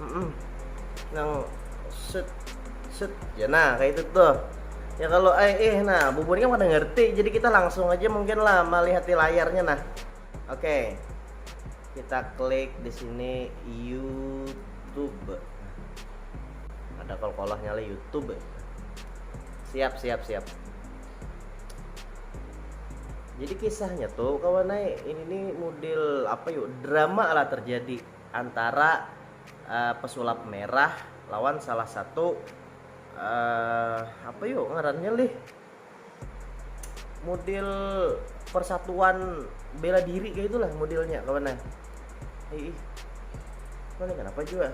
hmm nang set set ya nah kayak itu tuh ya kalau eh eh nah bubun kan pada ngerti jadi kita langsung aja mungkin lah melihat di layarnya nah oke okay. kita klik di sini YouTube ada kolkolahnya lah YouTube siap siap siap jadi kisahnya tuh kawan naik ini nih model apa yuk drama lah terjadi antara pesulap merah lawan salah satu uh, apa yuk ngarannya lih model persatuan bela diri kayak itulah modelnya kawan eh ih mana kenapa juga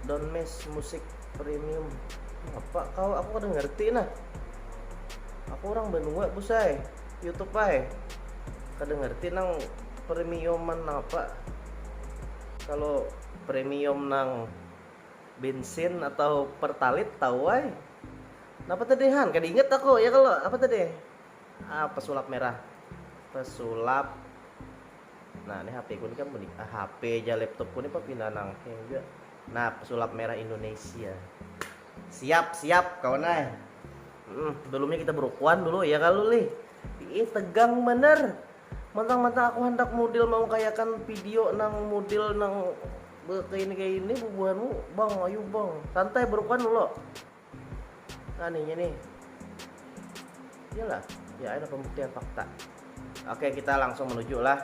don't miss musik premium apa kau aku kadang ngerti nah aku orang benua pusai YouTube ay kada ngerti nang premiuman apa kalau premium nang bensin atau pertalit tahu ay napa tadi han kada ingat aku ya kalau apa tadi ah, pesulap merah pesulap nah ini HP ku ni kan menik ah, HP aja laptop ku ni papindah nang hang juga nah pesulap merah Indonesia Siap siap kawan ai. Hmm sebelumnya kita berukuan dulu ya kalu lih. Ih tegang banar. Mantang-mantang aku hendak mudil maukayakan video nang mudil nang kayak ini kayak ini bubuhanmu bang ayo bang santai berukuan dulu nah nih ini iyalah ya ada pembuktian fakta oke kita langsung menuju lah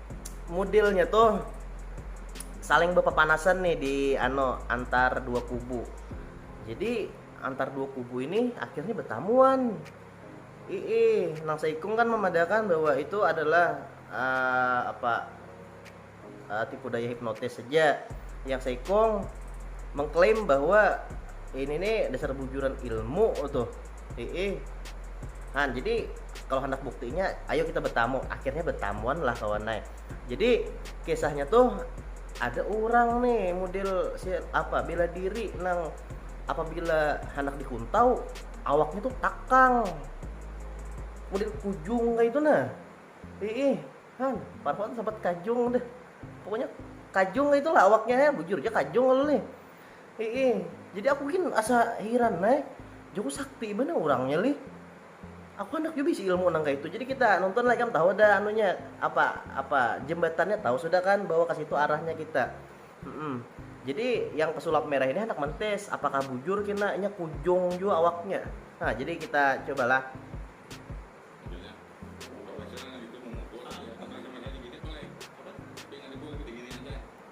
mudilnya tuh saling berpepanasan nih di ano antar dua kubu. Jadi antar dua kubu ini akhirnya bertamuan. Ii, nang seikung kan memadakan bahwa itu adalah uh, apa uh, tipu daya hipnotis saja. Yang seikung mengklaim bahwa ini nih dasar bujuran ilmu tuh Heeh. Nah, jadi kalau hendak buktinya, ayo kita bertamu. Akhirnya bertamuan lah kawan naik. Jadi kisahnya tuh ada orang nih model si apa bela diri nang apabila hendak dikuntau awaknya tuh takang model kujung kayak itu nah ih kan parfum sempat kajung deh pokoknya kajung itulah awaknya ya bujur aja kajung lalu nih Iih, jadi aku gin asa hiran ai, jaku sakti banar urangnya lih. Aku handak jua bisi ilmu nang kaitu. Jadi kita nonton lah ikam tahu dah anunya apa apa jembatannya tahu sudah kan bahwa ke situ arahnya kita. Hmm. Jadi yang pesulap merah ini handak mentis apakah bujur kena inya kujung jua awaknya. Nah, jadi kita cobalah.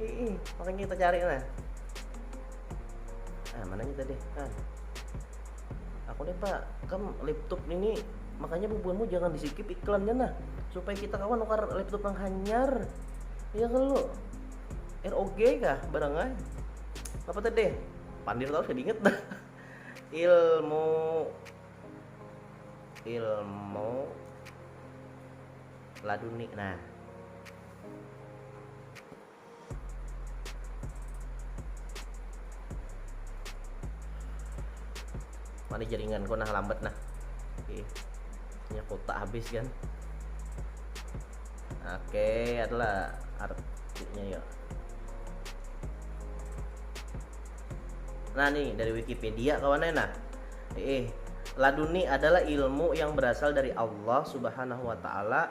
Ih, makanya kita cari nah. Ah, mana kita deh kan? Aku nih pak, kamu laptop ini makanya bubuanmu jangan disikip iklannya nah supaya kita kawan nukar laptop yang hanyar ya kan lu ROG kah barangnya apa tadi pandir tau saya inget dah ilmu ilmu laduni nah mana jaringan kau nah lambat nah oke punya kota habis kan oke adalah artinya ya nah nih dari Wikipedia kawannya nah eh laduni adalah ilmu yang berasal dari Allah subhanahu wa ta'ala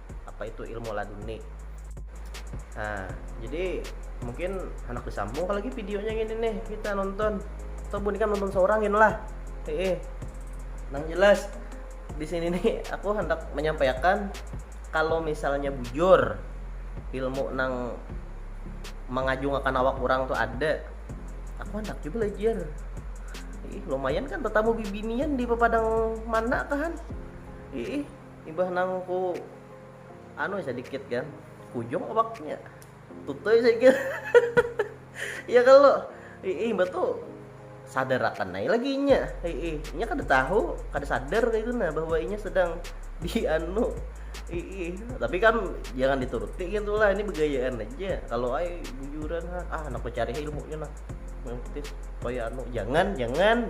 apa itu ilmu laduni nah jadi mungkin anak disambung lagi videonya gini nih kita nonton atau bun kan nonton seorang gini lah eh nang jelas di sini nih aku hendak menyampaikan kalau misalnya bujur ilmu nang mengajungakan awak orang tuh ada aku hendak juga belajar ih lumayan kan tetamu bibinian di pepadang mana kan ih Imbah nang ku anu sadikit kan, kujung awaknya. Tutuy saya kira. Iya kalo? Iih, imbah tu sadarakan ai lagi inya. Iih, inya kada tahu, kada sadar kaytu nah bahwa inya sedang di anu. Iih, tapi kan jangan dituruti gitu lah, ini begayaan aja. Kalau ai bujuran ah anak bacari ilmunya nah. Kaya anu, jangan, jangan.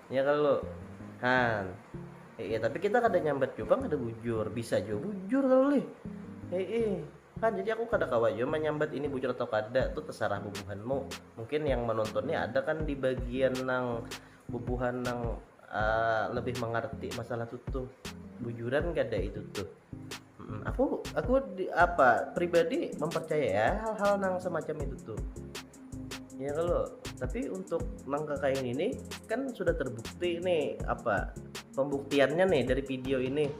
Ya kalu. Han. Heeh, tapi kita kada nyambat jua pang kada bujur. Bisa jua bujur kalu lih. Heeh. Han, jadi aku kada kawa jua manyambat ini bujur atau kada, tu tasarah bubuhanmu. Mungkin yang menonton ni ada kan di bagian nang bubuhan nang uh, lebih mengerti masalah tu tuh. Bujuran kada itu tuh. Hmm, aku aku di, apa pribadi mempercaya ya hal-hal nang semacam itu tuh. Ya kalau tapi untuk nang kekain ini kan sudah terbukti nih apa pembuktiannya nih dari video ini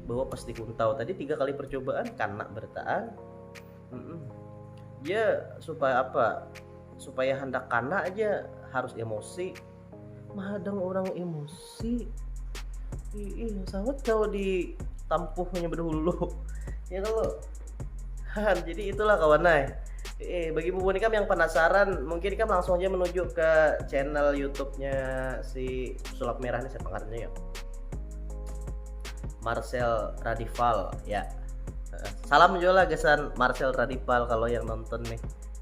bahwa pas dikuntau tadi tiga kali percobaan karena bertahan mm -mm. ya supaya apa supaya hendak karena aja harus emosi mahadang orang emosi ih sangat kalau di tampuh punya berdahulu ya kalau jadi itulah kawan ay eh, bagi bubu nikam yang penasaran mungkin nikam langsung aja menuju ke channel YouTube-nya si sulap merah nih siapa karena ya Marcel Radival ya salam juga lah gesan Marcel Radival kalau yang nonton nih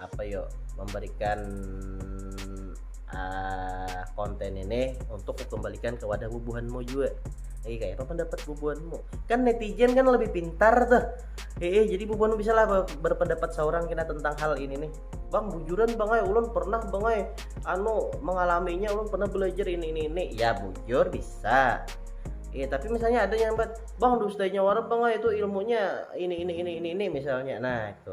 apa yo memberikan uh, konten ini untuk kembalikan ke wadah bubuhanmu juga Iya kayak apa pendapat bubuhanmu kan netizen kan lebih pintar tuh eh jadi bubuhanmu bisa lah berpendapat seorang kena tentang hal ini nih bang bujuran bang ay ulun pernah bang ay anu mengalaminya ulun pernah belajar ini ini ini ya bujur bisa Iya, tapi misalnya ada yang buat bang dustanya warna bang itu ilmunya ini ini ini ini ini misalnya. Nah, itu.